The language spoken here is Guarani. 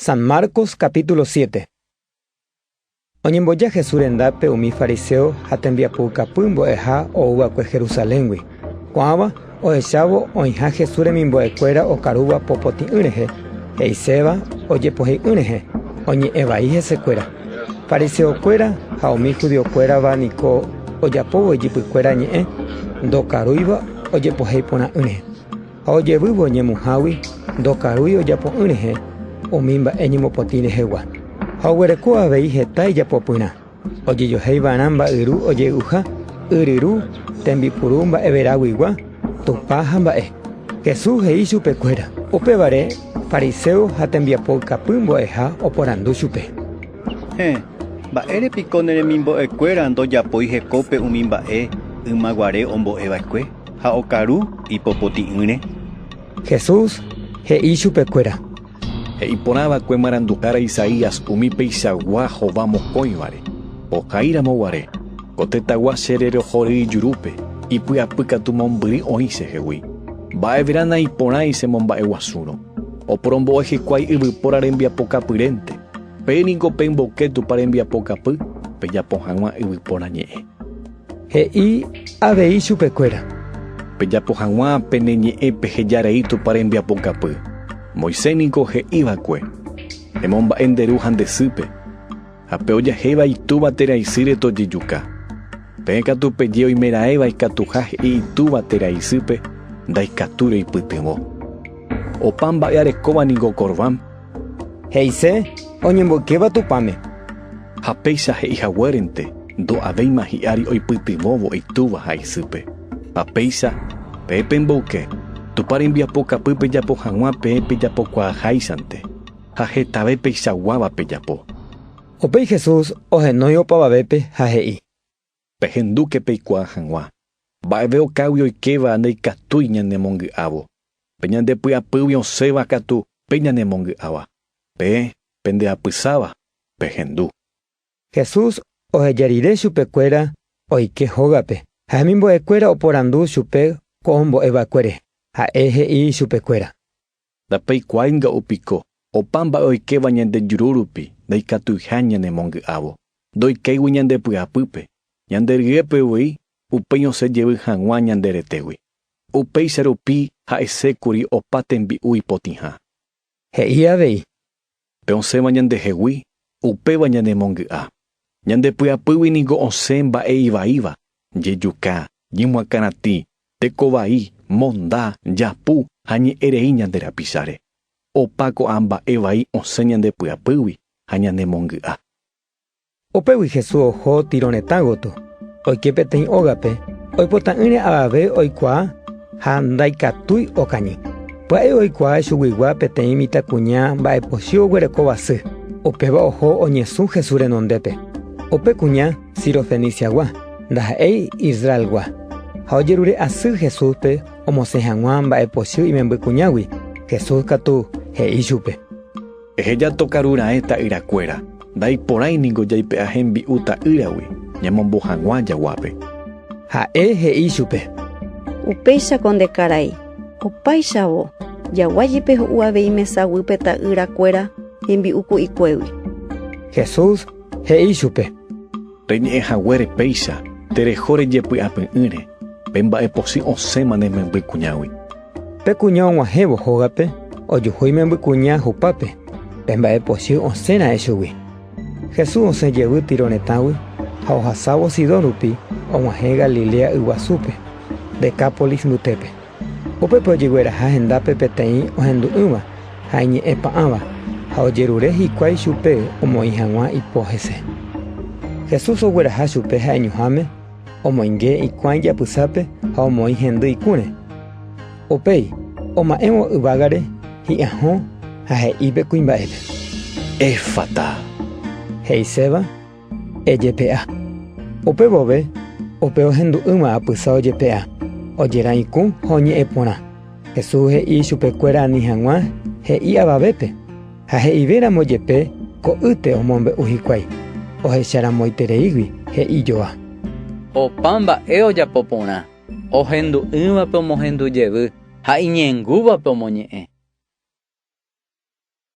San Marcos capítulo 7. Oñemboja Jesús rendápe umi fariseo ha tembiapoukapy mbo'eha ouva'ekue Jerusaléngui. Ko'ãva, ohechávo oĩha Jesús remimbo'ekuéra okarúva popotĩ'ỹ rehe, he'iséva ojepohei'ỹ rehe, oñe'ẽ vai hesekuéra. Fariseokuéra ha umi judiokuérava niko ojapóvo ijypykuéra ñe'ẽ ndokarúiva ojepohei porã'ỹre. Ha ojevývo ñemuhágui ndokarúi ojapo'ỹ rehe umi mba'e ñemopotĩ rehegua. Ha oguereko avei heta ijapopyrã, ojejoheiva'erã mba'yru ojey'uha, yryru, tembipuru mba'everaguigua, tupa ha mba'e. Jesús he'i chupekuéra. Upévare fariséo ha tembiapo ikapy mbo'eha oporandu chupe. Héẽ, mba'ére piko ne remimbo'ekuéra ndojapói hekópe umi mba'e ymaguare ombo'eva'ekue? ha okaru ipopoti'ỹre? Jesús he'i chupekuéra. He'i porã va'ekue marandu'ára Isaías umi peichagua hova mokõivare, Ohai ramo guare, ko tetãgua che rerohory ijurúpe, ipy'apy katu mombyry oĩ che hegui. Mba'everã naiporãi che momba'e guasúrõ. Oporombo'e hikuái yvypóra rembiapokapyrénte. Pe ningo pemboke Tupã rembiapokapy, pejapo hag̃ua yvypóra ñe'ẽ. He'i avei chupekuéra: “Pejapo hag̃ua pene ñe'ẽ peheja rei Tupã rembiapokapy. Moisés ningo he'i va'ekue: ‘Emomba'e nde ru ha nde sýpe’, ha pe ojahéiva itúva térã isýre tojejuka. Peẽ katu peje oimeraẽva ikatuha he'i itúva térã isýpe ndaikatúirõ ipytyvõ. Opa mba'e arekóva ningo Corbán. He'ise oñemboykéva Tupãme. Ha péicha he'i haguérente ndo'avéima hi'ári oipytyvõvo itúva ha isýpe. Ha péicha, pe pemboyke, Tupã rembiapo kapy pejapo hag̃ua peẽ pejapokuaaháichante, ha hetave peichaguáva pejapo. Upéi Jesús ohenói opavavépe ha he'i. Pehendúke peikuaa hag̃ua, mba'eve okágui oikéva ndaikatúi ñanemongy'ávo, pe ñande py'apýgui osẽva katu pe ñanemongy'áva. Peẽ pende apysáva, pehendu. Jesús oheja rire chupekuéra oike hógape ha hemimbo'ekuéra oporandu chupe ko ombo'e va'ekue rehe. Ha'e he'i chupekuéra. Ndapeikuaaínga upiko, opa mba'e oikéva ñande juru rupi ndaikatuiha ñanemongy'ávo, ndoikéigui ñande py'apýpe, ñande ryépe voi upéi osẽ jevy hag̃ua ñande retégui. Upéicha rupi ha'esékuri opa tembi'u ipotĩha. He'i avei, Pe osẽva ñandehegui, upéva ñanemongy'a. Ñande py'apýgui niko osẽ mba'e ivaíva, jejuka, jemoakãratĩ, tekovai, monda, japu ha ñe'ẽrei ñande rapicháre. Opa ko'ã mba'e vai osẽ ñande py'apýgui ha ñanemongy'a. Upégui Jesús oho Tiro retã gotyo, oike peteĩ ógape oipota'ỹre avave oikuaa ha ndaikatúi okañy. Pya'e oikuaa chuguigua peteĩ mitãkuña mba'epochy oguerekóva sy, upéva oho oñesũ Jesús renondépe. Upe kuña Sirofeniciagua, ndaha'éi Israelgua. Ha ojerure asy Jesúspe omosẽ hag̃ua mba'epochy imembykuñágui, Jesús katu he'i chupe: Eheja tokaru raẽ ta'yrakuéra, ndaiporãi ningo jaipe'a hembi'u ta'ýragui, ñamombo hag̃ua jaguápe. Ha'e he'i chupe. Upéicha ko nde karai. Opáichavo, jagua jepe ho'u avei mesa guýpe ta'ýrakuéra hembi'u ku'ikuégui. Jesús he'i chupe. Reñe'ẽ haguére péicha, tereho rejepy'apy'ỹre, pe mba'e pochỹ osẽma ne memby kuñágui. Pe kuña og̃uahẽvo hógape ojuhu imembykuña hupápe, pe mba'e pochy osẽ ra'e chugui. Jesús osẽ jevy Tiro retãgui ha ohasávo Sidón rupi og̃uahẽ Galilea yguasúpe, Decápolis mbytépe. Upépe ojigueraha hendápe peteĩ ohendu'ỹva ha iñe'ẽpa'ãva, ha ojerure hikuái chupe omoĩ hag̃ua ipo hese. Jesús ogueraha chupe ha'eñoháme, Omoinge ikuã ijapysápe ha omoĩ hendy ikũre. Upéi oma'ẽvo yvágare hi'ãhõ ha he'i pe kuimba'épe: “Efata”, he'iséva, Ejepe'a. Upe vove upe ohendu'ỹva apysa ojepe'a, ojerã ikũ ha oñe'ẽ porã. Jesús he'i ichupekuéra ani hag̃ua he'i avavépe. Ha he'ive ramo jepe ko'ýte omombe'u hikuái, ohecha ramoitereígui he'i joa. Opa mba'e ojapo porã, ohendu'ỹvape omohendu jevy ha iñe'ẽngúvape omoñe'ẽ.